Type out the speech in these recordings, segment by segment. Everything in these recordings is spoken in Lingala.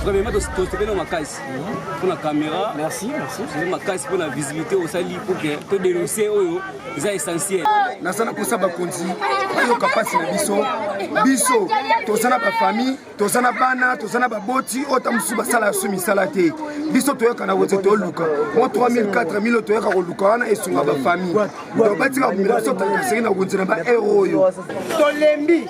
vraiment tosepeli makasi mpona caméra makasi mpona visibilité osali pour que todenonce oyo eza essentiel naza na kosa bakonzi bayoka mpasi na biso biso toza na bafamille toza na bana toza na baboti oyo ta mosusu basala ya su misala te biso toyoka na wete toluka mo 3000 4000 oyo toyoka koluka wana esunga bafamille donc batika komela biso tangaseki na konzi na baero oyo tolembi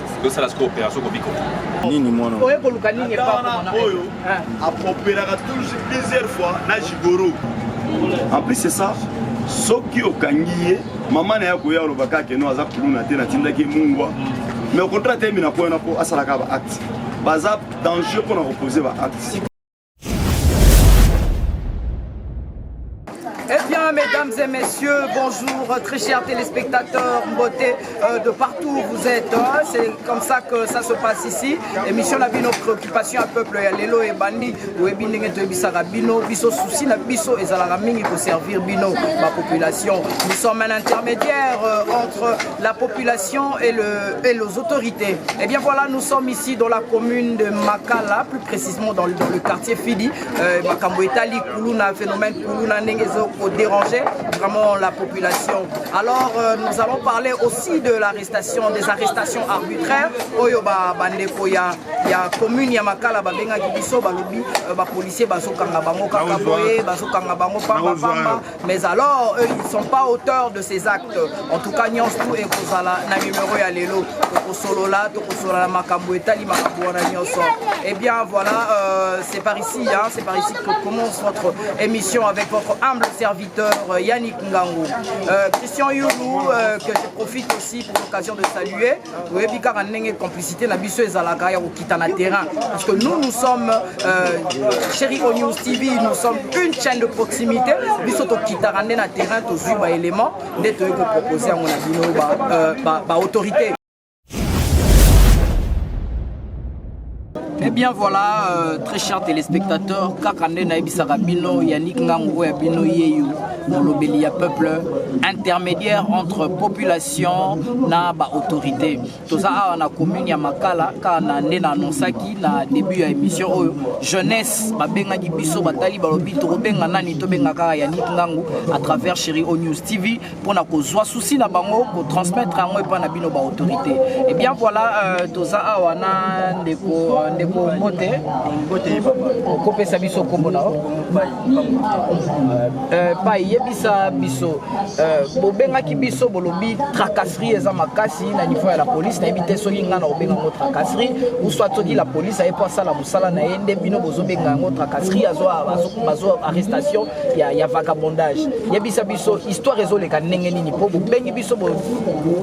tosala siko opération kobiko nini mwana oye koluka nini epana oyo ah. apropelaka toujours plusieurs fois na jigoro en plus c'est ça soki okangi ye mama na ye akoya oloba kaka no aza kuluna te natindaki mungwa mais okontra te mina mpo wana mpo asalaka baacte baza danger mpo na kopose baacte Eh bien, mesdames et messieurs, bonjour, très chers téléspectateurs, beauté euh, de partout où vous êtes. Hein. C'est comme ça que ça se passe ici. Émission la bino préoccupation à peuple ya lelo et bandi ou ebindenge to ebisaka bino biso souci na biso ezalaka mingi ko servir bino ma population. Nous sommes un intermédiaire euh, entre la population et, le, et les autorités. Et eh bien voilà, nous sommes ici dans la commune de Makala, plus précisément dans le, dans le quartier Fidi. Euh, Makambo Etali, Koulouna, phénomène Koulouna, Nengezo, pour déranger vraiment la population. Alors, euh, nous allons parler aussi de l'arrestation, des arrestations arbitraires. Oyo ba bandeko ya ya commune ya Makala ba benga kibiso ba lobi euh, ba policiers ba sokanga bango kaka boye, ba sokanga bango pamba pamba. Mais alors, eux, ils sont pas auteurs de ces actes. En tout cas, nyonso tout ekozala na numéro ya lelo. Tokosolola, tokosolola makambo etali makambo wana nyonso. Eh bien, voilà, euh, c'est par ici, hein, c'est par ici que commence votre émission avec votre humble serviteur euh, Yannick Ngango. Euh, Christian Youlou, euh, que je profite aussi pour l'occasion de saluer. oyebi kaka ndenge complicité na biso ezalaka ya kokita na terrain parce que nous nous sommes euh, chéri o news tv nous sommes une chaîne de proximité biso tokitaka nde na terrain tozwi baélément nde toyei kopropose yango na bino baautorité ba, euh, ba, ba Eh bien voilà, euh, très chers téléspectateurs, kaka nde nayebisaka bino Yannick Ngangu oyo ya bino yeyo molobeli ya peuple intermédiaire entre population na ba autorité. Toza awa na commune ya Makala kaka na nde na annonsaki na début ya émission oyo jeunesse babengaki biso batali balobi tokobenga nani tobenga kaka Yannick Ngangu à travers Chérie O News TV mpo na kozwa souci na bango kotransmettre yango epai na bino baautorité et eh bien voilà euh, toza awa na ndeko euh, ndeko mbote okopesa biso nkombo na yo euh, pai yebisa biso bobengaki biso bolobi tracasserie eza makasi na niveau ya la police nayebi te soki ngai na kobenga yango tracasserie ou soit soki la police aye mpo asala mosala na ye nde bino bozobenga yango tracasserie azo arrestation ya, ya vagabondage yebisa biso histoire ezoleka ndenge nini mpo bobengi biso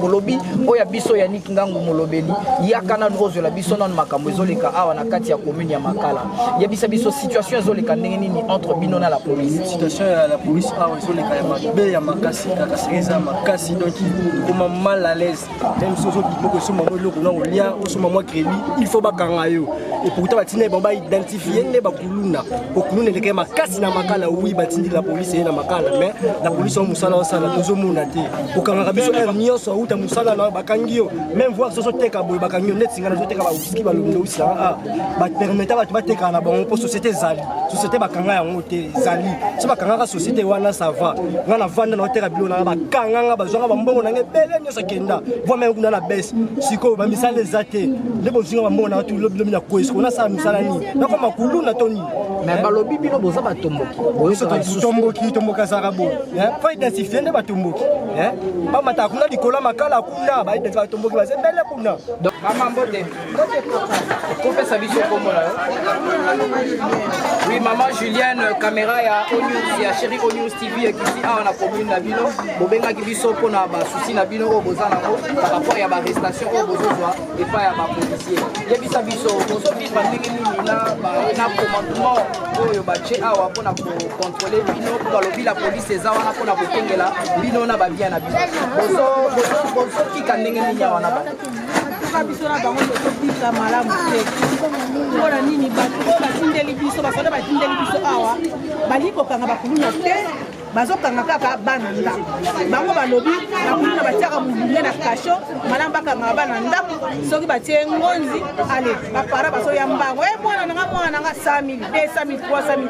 bolobi oyo ya biso yanik ngangu molobeli yaka nanu ozwela biso nanu makambo ezoleka awa na kati ya commune ya makala yebisa biso situation ezoleka ndenge nini entre bino na la police situation ya la police awa ezoleka ya mabe ya makasi kakasiri eza makasi donc ekoma mal à l'aise meme soki ozo bima kosomba mwa eloko na olia osomba mwa kredi il faut bakanga yo epourtant batinda bango baidentifie nde bakuluna kokuluna elekaki makasi na makala wi batindi la polise ye na makala mais la polise yango mosala osala tozomona te kokangaka biso heure nyonso auta mosala na bakangi yo meme voir soso teka boye bakangi yo neti nga nazoteka bawiski balondowisanga a bapermeta bato batekaka na bango mpo société ezali société bakanga yango te ezali so bakangaka société wana sava nga na vanda na oteka bilo nanga bakanga nga bazwanga bambongo nanga ebele nyonso akenda vwama yango kuna na bese sikoyo bamisala eza te nde bozinga bambongo nanga tulo bilobi na kwesi kona asala misala nini nakoma kuluna to nini me balobi bino boza batomboki tomboki tomboki azalaka boye fo identifie nde batomboki bamataka kuna likolo ya makala kuna batomboki baza ebele kuna kopesa biso kombo na yo oui maman julienne caméra ya onews ya chéri onews tv ekiti awa na commune na bino bobengaki biso mpo na basusi na bino oyo boza nango par rapport ya barestation oyo bozozwa epai ya bapolisier yebisa biso bozovivre ndenge nini na commandement oyo batye awa mpo na kocontrole bino mpo balobi la polise eza wana mpo na kokengela bino na babia na bino bozotika ndenge nini awa na kaka biso na bango tokobika malamu te mpo na nini bato oyo batindeli biso basoda batindeli biso awa balingi kokanga bakuluna te bazokanga kaka bana ndako bango balobi bakuluna batiaka mobule na kasho malamu bakangaka bana ndako soki batie ngonzi ale bapara basoya mbango e eh, mwana nanga mwana nanga 100 000 200 000 300 000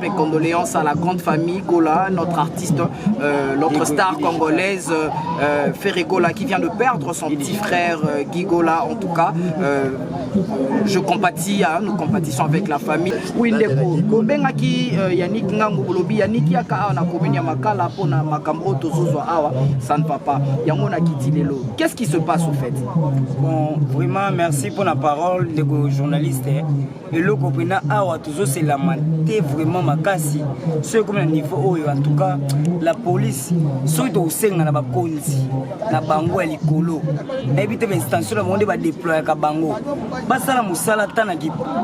Mes condoléances à la grande famille Gola, notre artiste, euh, notre star congolaise euh, Ferré Gola qui vient de perdre son petit frère euh, Guy Gola. En tout cas, euh, je compatis, hein, nous compatissons avec la famille. Oui, ndeko, kobengaki euh, Yannick Ngango Bolobi, Yannick yaka awa na commune ya Makala mpo na makambo oyo tozozwa awa, ça ne va pas. Yango na kiti lelo. Qu'est-ce qui se passe au fait? Bon, vraiment merci pour la parole, ndeko journaliste. eloko mpena awa tozoselama te vraiment makasi soki ekomi na niveau oyo en tout cas la police soki tokosenga na bakonzi na bango ya likolo nayebi te bainstantion na bango nde badeployaka bango basala mosala ata na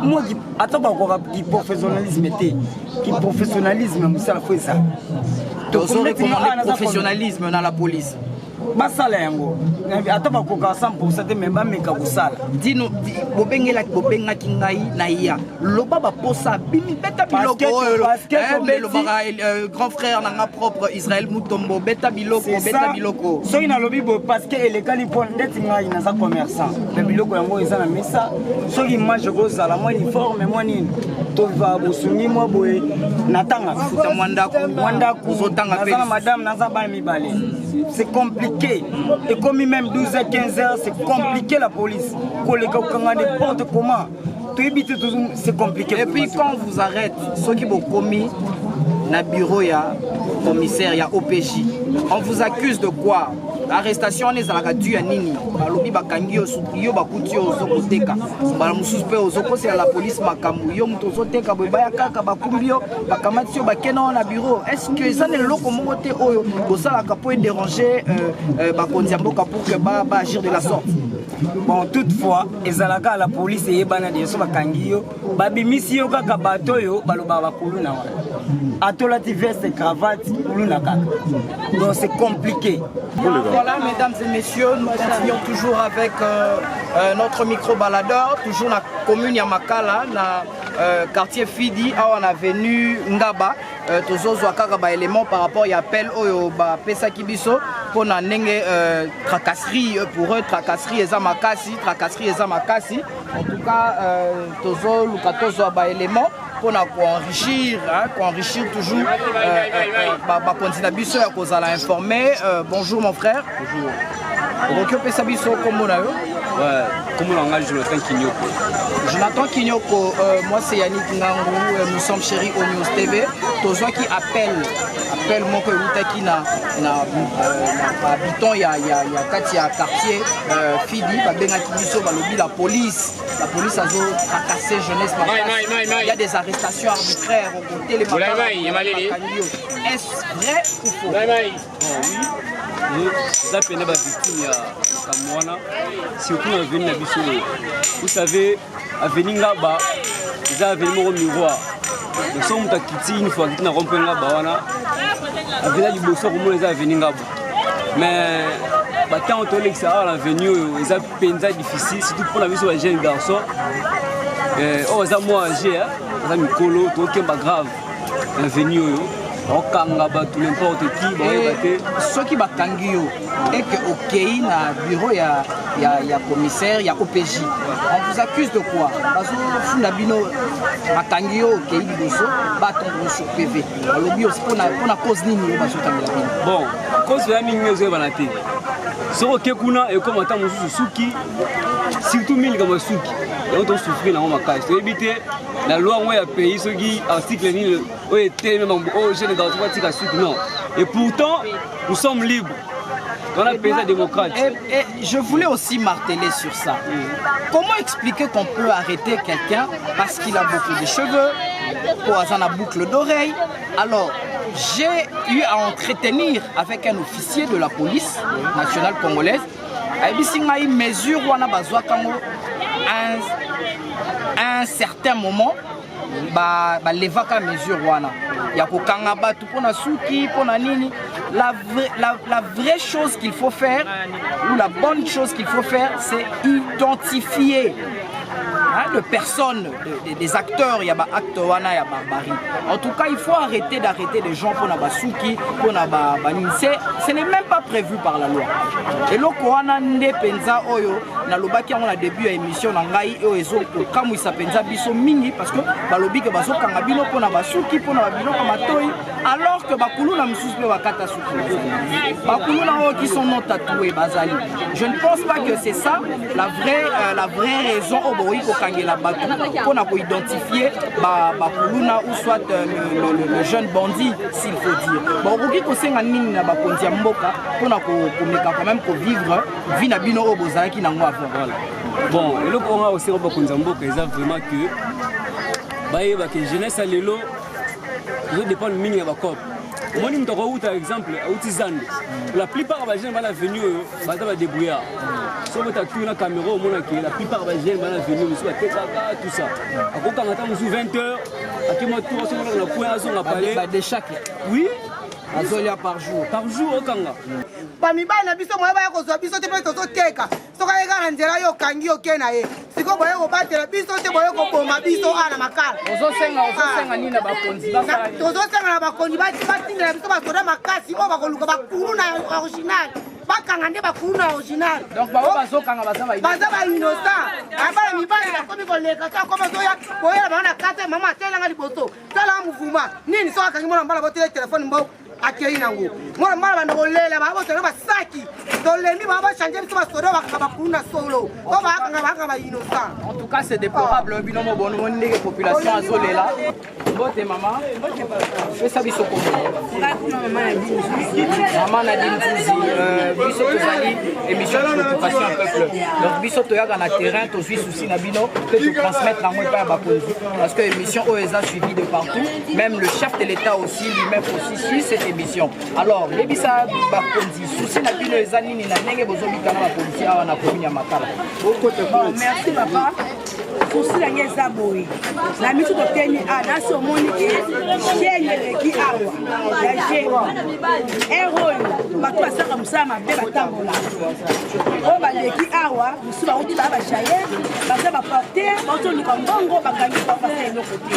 mwa ata bakoka kiprofessionnalisme te kiprofessionnalisme ya mosala fo ezala tozorekomande professionnalisme na la police basala yango ata bakoka 100 te me bameka kosala dino bobengelaki bobengaki ngai na ya loba baposa bimi beta biloko oyo elobaka eh, euh, grand frère na nga propre israel mutombo beta biloko beta biloko soki nalobi boye parceke elekani mpo ndeti ngai naza commerçant me biloko yango eza na mesa soki image ekozala mwa uniforme mwa nini tova bosungi mwa boye natanga futa mwa ndako mwa ndako naza na madame naza bana c'est compliqué et comme même 12 à 15 heures c'est compliqué la police koleka kokanga n'importe comment toyebi te c'est compliqué et puis quand on vous arrête soki bokomi na bureau ya commissaire ya opj on vous accuse de quoi arrestation wana ezalaka du ya nini balobi bakangi yo yo bakuti yo ozo koteka mbala mosusu mpe ozokosela la polise makambo yo moto ozoteka boye baya kaka bakumbi yo bakamati yo bakenda wana na bureau est ce que eza na eloko moko te oyo bosalaka mpo edérange euh, euh, bakonzi ya mboka pour que baagir de la sorte bon toutefois ezalaka la police eyebana de so bakangi yo babimisi yo kaka bato oyo balobaka bakuluna wana atolati veste cravate kuluna kaka donc c'est compliqué voilà mesdames et messieurs nous continuons toujours avec euh, euh, notre micro baladeur toujours na commune ya makala na Euh, quartier fidi awa na avenue ngaba euh, tozozwa kaka baélément par rapport ya appel oyo bapesaki biso mpo na ndenge euh, tracasserie pour eux tracasserie eza makasi tracasserie eza makasi en tout cas euh, tozoluka tozwa baélément mpo na koenrichir koenrichir toujours euh, euh, euh, bakonzi na biso ya kozala informe euh, bonjour mon frère bonjour. okoki opesa biso nkombo na yo nkombo na ngai jonathan kinyoko jonathan kinyoko euh, mwasi ya nik ngangu euh, nous sommes chéri au news tv tozwaki appel appel moko ewutaki na bahabitant euh, ya, ya, ya kati ya quartier euh, fidi babengaki biso balobi la police la police azo tracase jeunesse il y a des arrestations arbitraires okotelemakangi yo est vrai ou faux eza pene bavictime ya makambo wana surtout na aveni na biso oyo vous savez aveni ngaba eza aveni moko miroir donc soki moto akiti une fois akiti na rompe ngaba wana aveni ya liboso akomona eza aveni ngaba mais batango tolekisa awa na aveni oyo eza mpenza difficile surtout mpo na biso ba jeune garçon oyo aza mwa age aza mikolo tokemba grave na veni oyo okanga bato n'importe qui eh, bayeba te soki bakangi yo eke okei na bureau ya, ya, ya commissaire ya opg on vous accuse de quoi bazofunda bino bakangi yo okei liboso batondre sur pv balobi mpona cause nini yo bazotangela bino bon cause oya mingi ezoyebana te soki oke kuna ekoma ntango mosusu suki surtout mingi likambo ya suki yango tosufri nango makasi toyebi te na loi yango ya pays soki article nini oyo etelemi mambo oyo oh, jeune garçon batika suki non et pourtant nous sommes libres On a payé démocrate. Et, et, je voulais aussi marteler sur ça. Comment expliquer qu'on peut arrêter quelqu'un parce qu'il a beaucoup de cheveux, poison à boucle d'oreille Alors, j'ai eu à entretenir avec un officier de la police nationale congolaise ayebisi ngai mesure wana bazwaka yango un, un certain moment balevaka ba mesure wana ya kokanga bato mpo na suki mpo na nini la, vraie, la, la vraie chose qu'il faut faire ou la bonne chose qu'il faut faire c'est identifier hein, de personnes des, des acteurs ya ba acte wana ya barbarie en tout cas il faut arrêter d'arrêter les gens mpona basuki mpona banini ba, c'est ce n'est même pas prévu par la loi eloko wana nde mpenza oyo nalobaki yango na début ya émission na ngai oyo ezokokamwisa mpenza biso mingi parce que balobi ke bazokanga bino mpona basuki mpona babiloko matoi alors que bakuluna mosusu mpe bakata bakuluna oyo qui sont non tatoué bazali je ne pense pas que c'est ça la vraie, euh, la vraie raison oyo bokoki kokangela bato mpo na koidentifie bakuluna ba ou soit euh, le, le, le, le jeune bandit s'il faut dire bakoki kosenga nini na bakonzi ya mboka mpo na komeka quand même kovivre vie na bino oyo bozalaki nango avant voilà bon eloko oyo nga kosenga bakonzi ya mboka eza vraiment que bayebake jeunesse ya lelo ezo dépendre mingi ya bacope omoni moto akouta exemple auti zando la plupart bajeune bana venu oyo baza badebrouillard so bota tour na caméra omonake la plupart bajeune bana venu mosusu batekaka tout ça akokanga ntango mosusu 20 heures akima tour asomonaka na coin azonga pale oui azolia par jour par jour okanga bamibali na biso moya baya kozwa biso te mpe tozoteka soki aye kaka na nzela yo okangi yo ke na ye sikoyo boye kobatela biso te boye koboma biso awa na makala tozosenga na bakonzi batindela biso basoda makasi oyo bakoluka bakulu na original bakanga nde bakulu na original baza bainosa abala mibali bakomi koleka to akoma zoya boyela bango na kata mama atelanga liboso talanga muvuma nini soki akangi mwana mbala botele telefone mboko akei nango mwana mbala banda kolela babotana basaki tolembi baa bachange biso basoda bakanga bakulu na solo o bakanga bakanga bainocent en tout cas c'est déplorable ah. bino mobono moni ndenge population azolela mbote mama pesa biso komomama na dinzuzi euh, biso tozali émission de l'occupation ya peuple donc biso toyaka na terrain tozwi souci na bino mpe totransmettre yango epai ya bakonzi parce que émission oyo eza suivi de partout Même le chef de l'État aussi, lui-même aussi suit cette émission. Alors, yebisa bakonzi souci na bino eza nini na ndenge bozobika na bakonzi awa na commune ya Makala. Bon, merci papa. sousi na ngai eza boye na miso totemi a nasi omoni ke sheni eleki awa ya jeni ere oyo bato basalaka mosala mabe batambola oyo baleki awa mosusu bauti baa bajayer baza baporter bautoluka mbongo bakangi bapasa eloko te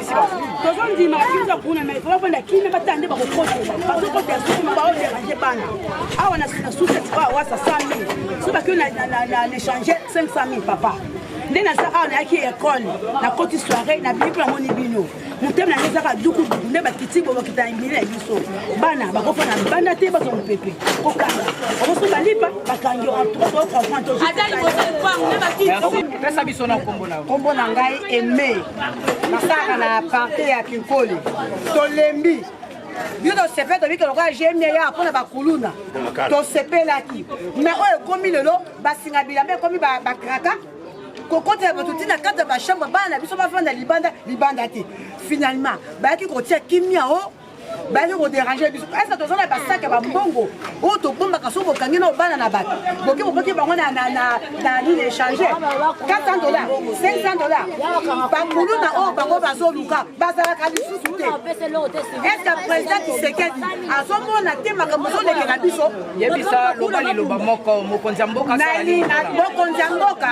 tozondima kiza kuna mai vraimen banda kimia batala nde bakokotela bazokotela sukuma baoderange bana awa na suseti ba wasa 100 mille so bakio na lechange 500 mille papa nde naza awa nayaki ekole nakoti soirei na bino mpo namoni bino motema na ngai ezaka dukuduku nde bakiti bolokita na bini na biso bana bakofa na banda te bazwa mopepe kokanga omoso balipa bakangi pesa biso na nkombo na ngai eme masaka na parte ya kinkoli tolembi bino tosepeli tobiki lokola gmia ya mpona bakuluna tosepelaki mai oyo ekomi lelo basinga bilamba ekomi bakraka kokotela bato ntina kati ya bachambre bana na biso bafanda libanda libanda te finalement bayaki kotia kimia o baye ko déranger biso est-ce que tozana ba sac ba mbongo oyo tobombaka soki bokangi na obana na bato boke bokoki bango na na na na nini échanger 400 dollars 500 dollars bakuluna oyo bango bazoluka bazalaka lisusu te est-ce que président Tshisekedi azomona te makambo ozolekela biso yebisa loba liloba moko mokonzi ya mboka mokonzi ya mboka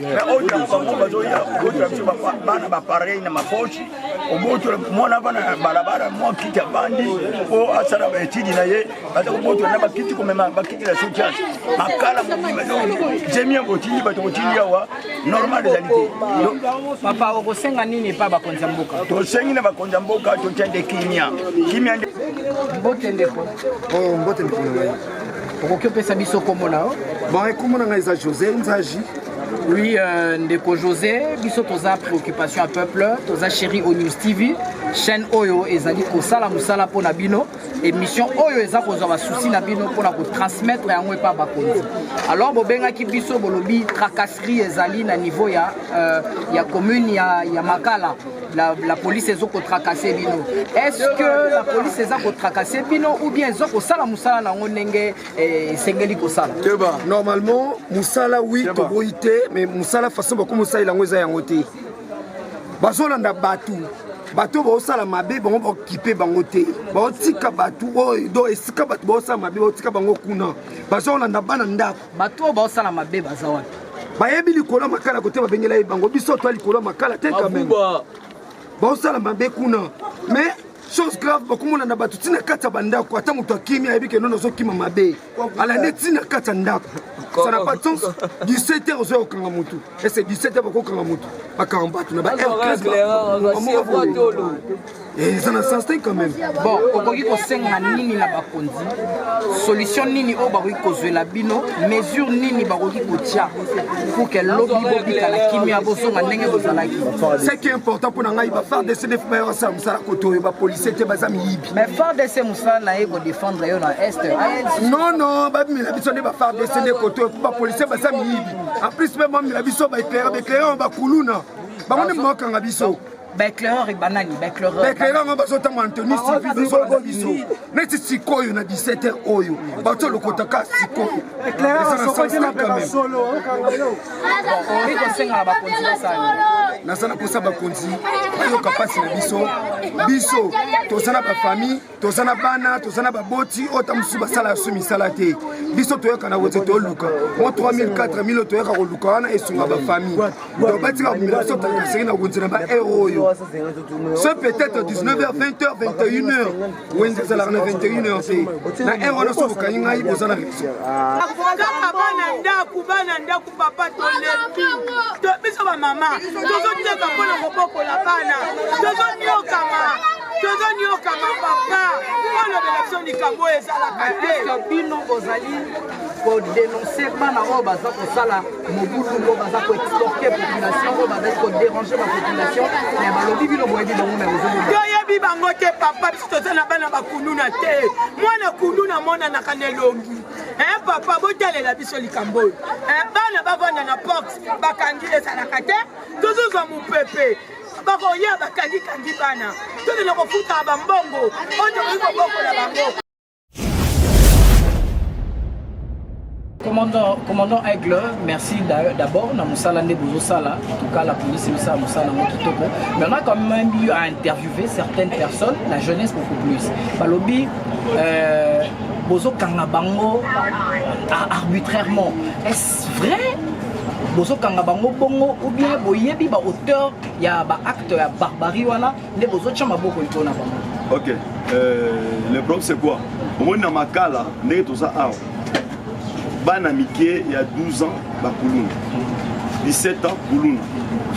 mais oyo ntango bango bazoya kobotola biso bana bapareil na mapoche obotola mwana bana na balabala mwa kiti abandi mpo asala baetidi na ye baza kobotola na bakiti komema bakiti na soutias makala mobima zemi yango otindi bato kotindi awa normal ezali te papa okosenga nini epa bakonzi ya mboka tosengi na bakonzi ya mboka totya nde kimia kimia nde mbote ndeko oh, mbote ndeko okoki opesa biso kombo na yo bon kombo na ngai eza josé nzaji Oui, euh, Ndeko José, biso toza préoccupation à peuple, toza chéri au News TV, chaîne oyo ezali kosala musala mpo na bino, émission oyo eza kozwa basusi na bino mpo na kotransmettre yango epa bakonzi. Alors bobengaki biso bolobi tracasserie ezali na niveau ya, euh, ya commune ya, ya Makala la, la police ezo kotracase bino est-ce que la police eza kotracase bino ou bien ezo kosala mosala na yango ndenge eh, esengeli kosala keba normalement mosala wi toboyi te mais mosala façon bakomi osalela yango eza yango te bazolanda bato bato oyo baosala mabe bango baokipe bango te baotika bato oyo do esika bato baosala mabe baotika bango kuna bazokolanda bana ndako bato oyo baosala mabe baza wapi bayebi likolo ya makala kote babengela ye bango biso toa likolo ya makala te kameme baosala mabe kuna mais chose grave bakomona na bato ntina kati ya bandako ata moto akimi ayebi ke nono azokima mabe alande ntina kati ya ndako ça n'a pas de sens 17 heures ozoya kokanga motu ese 17 heures bakokanga motu bakanga bato na ba Eh, eza na sens te quand même bon okoki kosenga nini na bakonzi solution nini oyo bakoki kozwela bino mesure nini bakoki kotya pour ke lobi bobika na kimia bozonga ndenge bozalaki ce qui est important mpo na ngai bafardc nde bayo basala mosala koto oyo bapolisie te baza miyibi mais fardc mosala na ye kodefendre yo na est non non babimela biso nde bafardc nde koto oyo mpo bapolisie baza miyibi en plus mpe bamela biso baeclaire baeclaire ya bakuluna bango nde bakanga biso baeclaireur banani baeclaireur yango bazotambola na tenue civil bazobalaka biso neti sikoyo na 17 heure oyo bato lokotaka sikoyo eza na sens te kameme naza na kosa bakonzi bayoka mpasi na biso biso toza na bafamille toza na bana toza na baboti oyo ta mosusu basala ya su misala te biso toyokana kote toluka mo 3000 4000 oyo toyoka koluka wana esunga bafamille donc batika komela biso tangasenge na wenze na baheure oyo ce peut-être 19h 20h 21h wenze ezalaka na 21h te na heure wana soki okangi ngai oza na raison papa tolembi biso bamama tozoteka mpo na kobokola bana tozonyokama tozonyokama papa olobela biso likambo oyo ezalaka te bino bozali kodenonse bana oyo baza kosala mobulu oyo baza koexporte population oyo bazali koderange bapopulation me balobi bino boyebi bango me toyebi bango te papa biso toza na bana bakuluna te mwana kuluna monanaka na elongi eh papa botalela biso likambo oyo eh, bana bavanda na porte bakangi ezalaka te tozozwa mopepe bakoya bakangikangi bana tolina kofuta bambongo oyo tokoki kobokola bango Commandant, commandant Aigle, merci d'abord na musala nde bozosala en tout cas la police esala musala yango kitoko mais on a quand même eu à interviewer certaines personnes la jeunesse beaucoup plus balobi euh, bozokanga bango arbitrairement est-ce vrai bozokanga bango bongo ou bien boyebi ba auteur ya ba acte ya barbarie wana nde bozotya maboko likolo na bango ok euh, le problème c'est quoi omoni na makala ndenge toza awa bana mike ya 12 ans bakuluna 17 ans kuluna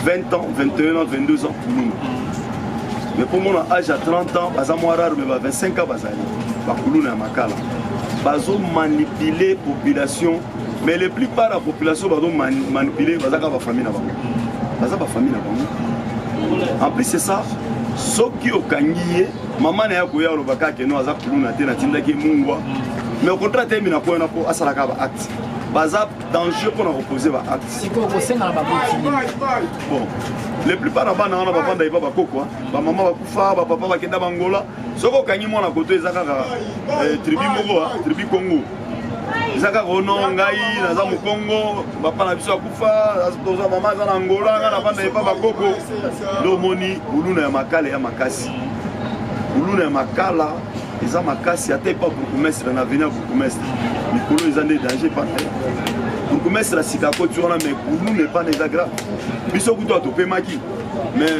20 ans 21 ans 22 ans kuluna mais mpo mona age ya 30 ans baza mwa rare mais ba 25 ans bazali bakuluna ya makala bazomanipule population mais le plupart ya population bazomanipule bazaka bafamille na bango baza bafamille na bango en plus c'est ça soki okangi ye mama na ye akoya aloba kaka keno aza kuluna te natindaki mungwa mais okontra te mina koyana mpo asalaka ba acte baza danger mpo na kopose ba acte bon le plupart na bana wana bafanda epa bakokwa bamama bakufa bapapa bakenda bangola soki okangi mwana koto eza kaka eh, tribu moko tribu congo eza kaka ono ngai naza mokongo papa na biso akufa toza mama aza na angola ngai navanda epa bakoko nde omoni buluna ya makala ya makasi buluna ya makala eza makasi ata epa bourgmestre na avenir bourgmestre mikolo eza nde danger pana bourgmestre ya sika akoti wana mai buluna epana eza grave biso kutu atopemaki mais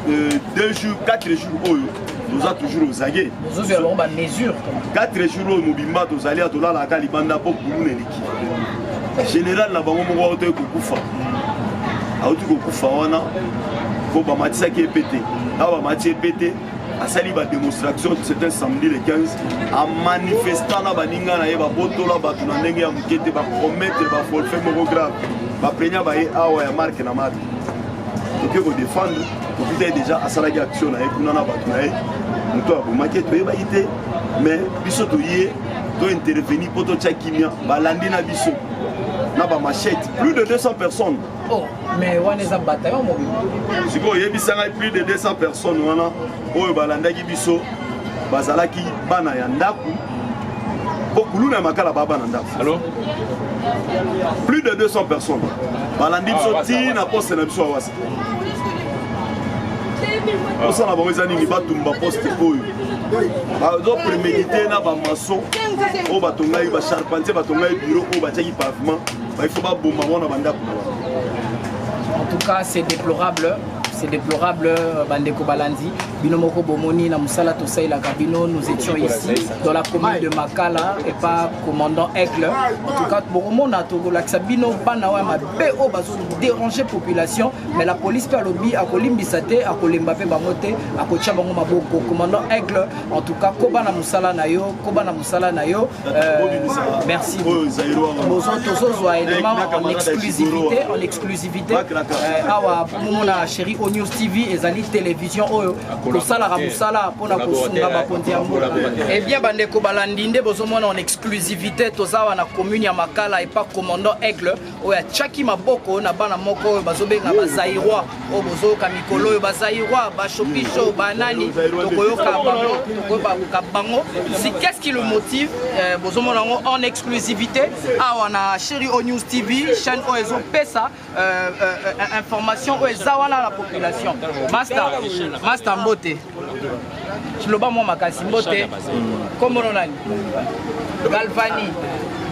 euh, deux jours quatre jours oyo toza toujours ozage ozozwela bango bamesure 4 jours oyo mobimba tozali atolalaka libanda mpo kuluna eleki général na bango moko auti kokufa auti kokufa wana mpo bamatisaki epe te awa bamati epe te asali bademonstration certain samedi le 15 amanifesta na baninga na ye babotola bato na ndenge ya moke te bapromettre bafolfe moko grave baprenia baye awa ya marke na marke toke kodefendre tokuta ye déjà asalaki action na ye kuna na bato na ye moto abomaki toyebaki te mais biso toye tointerveni mpo totya kimia balandi na biso na bamachete plus de 200 personnes oh, mais wana eza bataillon mobimba sikoyo oyebisa ngai plus de 200 personnes wana oyo balandaki biso bazalaki bana ya ndako mpo kuluna ya makala baa bana ndako plus de 200 personnes balandi biso ah, ti na poste na biso awasa osala bango eza nini batumba poste oyo bazo premedite na bamason oyo batongaki bacharpentier batongaki biro oyo batiaki pavement baifo baboma ngo na bandako na bango en tout cas c'est déplorable c'est déplorable euh, bandeko balandi bino moko bomoni na mosala tosalelaka bino nous étions ici dans la commune de makala et pas commandant aigle en tout cas bokomona tokolakisa bino bana oyo mabe oyo bazoderange population mais la police mpe alobi akolimbisa te akolemba mpe bango te akotya bango maboko commandant aigle en tout cas koba na mosala na yo koba na mosala na yo euh, merci tozozwa élément en exclusivité en exclusivité euh, awa bomomona chéri o news tv ezali télévision oyo tosalaka mosala mpona kosunga bakonzi ya mboka ebien eh bandeko balandi nde bozomona en exclusivité toza awa na commune ya makala epa commandant aigle oyo atiaki maboko na bana moko oyo bazobenga bazairois oyo bozoyoka mikolo oyo bazairois bashopisho banani tokoyoka bango tokoyoka bango si qu'est-ce qui le motive euh, bozomona yango en exclusivité awa na chéri o news tv chaîne oyo ezopesa euh, euh, information oyo eza wana na population masta masta mbote loba mwa makasi mbote kombono nani galvani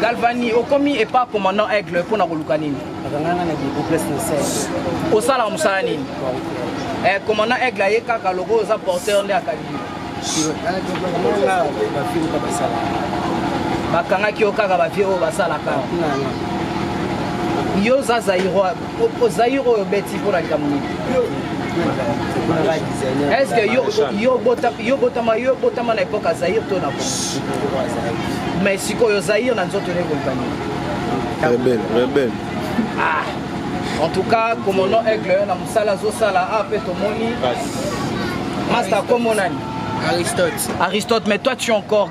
galvani okomi epa commandant aigle mpo na koluka nini osalaka mosala nini eh, commandant aigle aye kaka loko oza porteur nde akangi bakangaki yo kaka bavie oyo basalaka yo oza zairo Opo Zaire oyo beti mpo na likambo nini? Est-ce que yo yo bota yo botama yo botama na epoque Zaire to na Mais sikoyo Zaire na nzoto ne kolibani. Rebelle, rebelle. Ah. En tout cas, comme on a aigle na musala zo sala a ah, pe to moni. Master comme on a Aristote. Aristote, mais toi tu es encore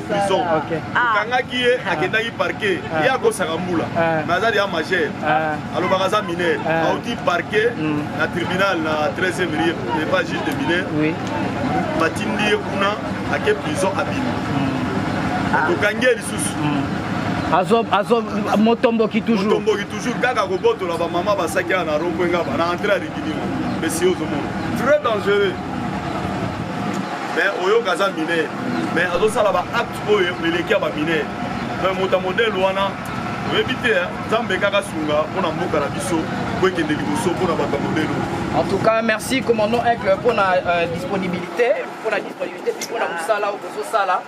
prison okangaki ye akendaki parke ye akosaka mbula me aza deya majeur alobaka aza mineur auti parke na tribunal na 13 rie epa juge de mineur batindi ye kuna ake prison abimi tokangi ye lisusu motomboki toujourmotomboki toujours kaka kobotola bamama basaki ya na rompo enga bana entre ya rikidimo mesi ozomona très dangereux mais oyoka aza mineur mais azosala baacte oyo eleki ya bamineur mais moto ya modele wana oyebi te nzambe kaka sunga mpo na mboka na biso po ekende liboso mpo na bato ya modele en tout cas merci commandant aigle mpo na euh, disponibilité mpo na disponibilité mpo na mosala oyo bozosala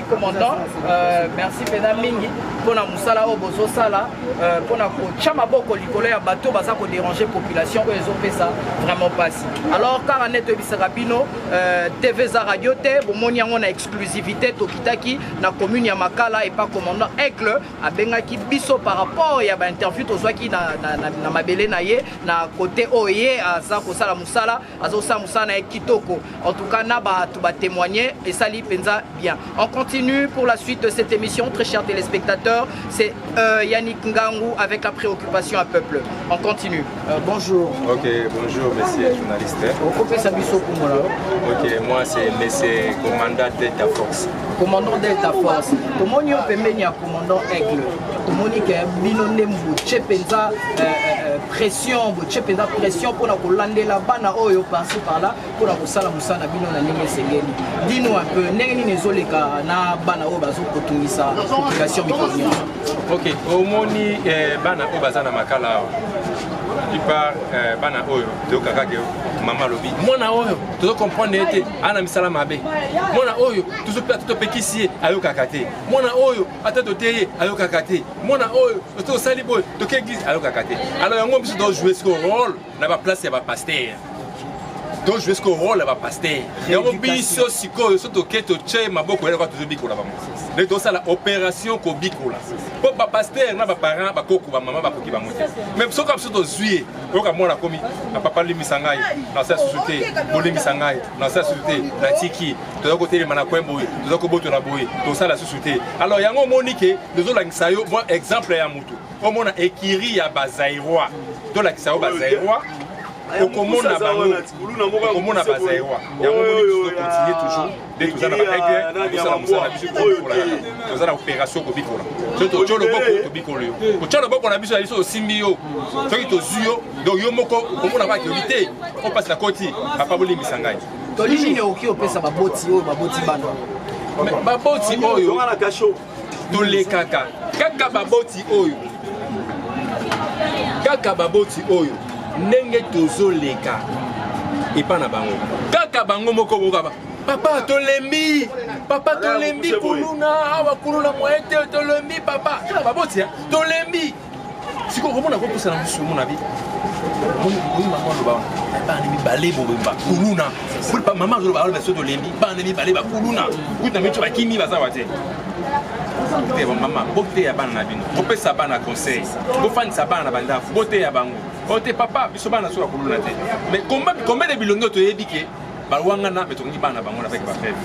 commandant euh, merci mpenza mingi mpo na mosala oyo bozosala euh, mpo na kotya maboko likolo ya bato baza koderange population oyo ezopesa vraiment mpasi alors kaka nde toyebisaka bino euh, tv eza radio te bomoni yango na exclusivité tokitaki na commune ya makala epa commandant aigle abengaki biso par rapport ya bainterview tozwaki na, na, na, na mabele na ye na kote oyo ye aza kosala mosala azosala mosala na ye kitoko en tout cas na bato batémoigne esali mpenza bien on continue pour la suite de cette émission très chers téléspectateurs c'est euh, yannick ngangu avec la préoccupation à peuple on continue euh, bonjour ok bonjour monsieur journaliste okopesa biso kumola ok moi c'est monsieur commandant delta force commandant delta force tomoni yo pembeni ya commandant aigle tomoni ke bino nde mbuce mpenza euh, euh, euh, pression botie mpenza pression mpona kolandela bana oyo parci parla mpona kosala mosala na bino na ndenge esengeli dino un peu ndenge nini ezoleka na bana oyo bazokotungisa population mikolo nyonso ok omoni eh, bana oyo baza na makala awa plupart eh, bana oyo toyokaka ke mama alobi mwana oyo tozo comprendre ye te ana misala mabe mwana oyo topekisi ye ayokaka te mwana oyo ata tote ye ayokaka te mwana oyo oto osali boye toke eglise ayokaka te alors yango biso tojoue siko role na baplace ya bapaster tojoue siko role ya bapaster yango biso sikoyo so toke totie maboko yaka tozobikola bango nde tosala opération kobikola mpo bapaster na baparent bakoko bamama bakoki bango te mai soki biso tozwi ye oyoka mwana akomi na papa limbisa ngai na sa susu te bolimbisa ngai na sa susu te natiki toza kotelema na coin boye toza kobotola boye tosala susu te alors yango omoni ke tozolakisa yo mwa exemple ya motu omona ekiri ya bazairois tolakisa yo bazairois okomona bango okomona bazairois yango omoni biso tokontinue toujours nde toza na baaigle tosala mosala biso kobikolaka toza na opération kobikola soki totyo loboko tobikolo yo kotya loboko na biso ya biso osimbi yo soki tozwi yo donc yo moko okomona bakebi te opasi na koti papa bolimbisa ngai toli nini okoki opesa baboti oyo baboti bana baboti oyo tolekaka kaka baboti oyo kaka baboti oyo ndenge tozoleka epa na bango kaka bango moko bokaba papa tolembi papa tolembi kuluna awa kuluna moye te tolembi papa kaka baboti tolembi sikoyo okomona kopusa na mosusu omona bi oyi mama aloba bana mibale bobemba kuluna mama azoloba aloba soki tolembi bana mibale bakuluna kuta mico bakimi baza wa te mama boteya bana na bino bopesa bana conseil bofandisa bana na bandako boteya bango ote papa biso bana soki bakuluna te mais combien de bilongi oyo toyebi ke balwangana me tokoki bana bango avec bafeve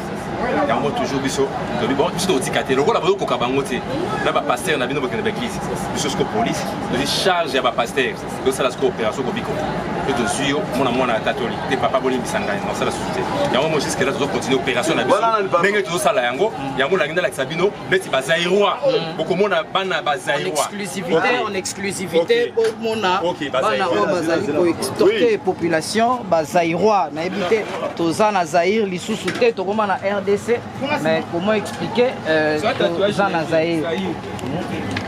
yango toujours biso tobi bon biso tokotika te lokola boyokoka bango te na bapaster na bino bokende baeglise biso siko polise tozi charge ya bapaster tosala siko opération kobiko mpe tozwi yo mwana mwana ya tatoli te papa bolimbisa ngai nasala susu te yango mo jusque là tozo continue opération na biso ndenge tozosala yango yango nangi ndalakisa bino neti ba Zaïrois mm. bokomona bana ba Zaïrois en exclusivité okay. en exclusivité bomona okay. okay. bana oyo bazali ko extorquer oui. population ba Zaïrois nayebi te toza na Zaïre lisusu te tokoma na RDC mais comment expliquer euh, toza na Zaïre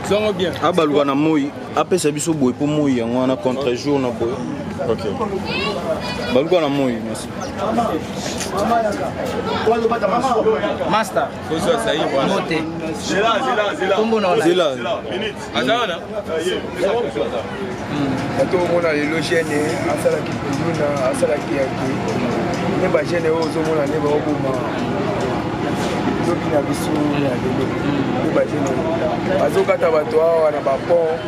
zongo bien abaluka na moi apesa biso boye mpo moi yango wana contre jour na boye okay. baluka na moi master kozwa zaire wana mote zela zela zela kombo na zela aza wana bato omona lelo gene asalaki kuluna asalaki yake nde bagene oyo ozomona nde baoboma lobi na biso ya lelo nde bagene bazokata bato awa na bapont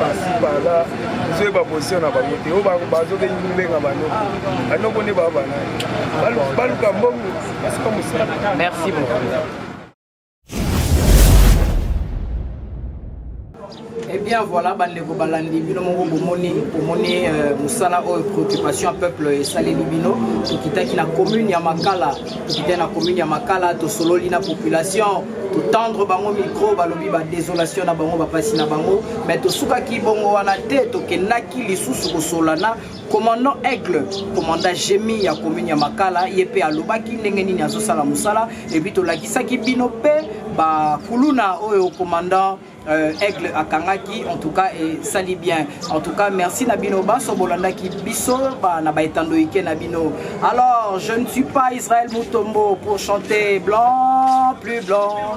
pasi pala ezoyeba position na bango te oyo bazobengi kobenga banoko banoko nde baa banani baluka mbongo Merci beaucoup. Eh bien voilà bandeko balandi bino moko bomoni bomoni euh, mosala oyo préoccupation ya peuple esaleli bino tokitaki na commune ya makala tokitaki na commune ya makala tosololi na population totendre bango micro balobi badesolation na bango bapasi na bango mais tosukaki bongo wana te tokendaki lisusu kosolana commandant aigle commandant jemi ya commune ya makala ye mpe alobaki ndenge nini azosala mosala epuis tolakisaki bino mpe bakuluna oyo commandant euh, aigle akangaki en tout cas esali bien en tout cas merci na bino banso bolandaki biso ba, na baetando ike na bino alors je ne suis pas israel mutombo pour chanter blanc plus blanc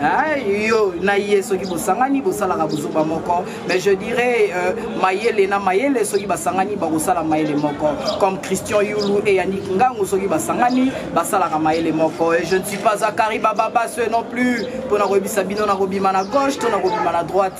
Hein, yo na ye soki bosangani bosalaka bozoba moko mais je dirais euh, mayele na mayele soki basangani bakosala mayele moko comme christian yulu et yannick ngangu soki basangani basalaka mayele moko et je ne suis pas zakari bababa ce non plus mpo na koyebisa bino na kobima na gauche to na kobima na droite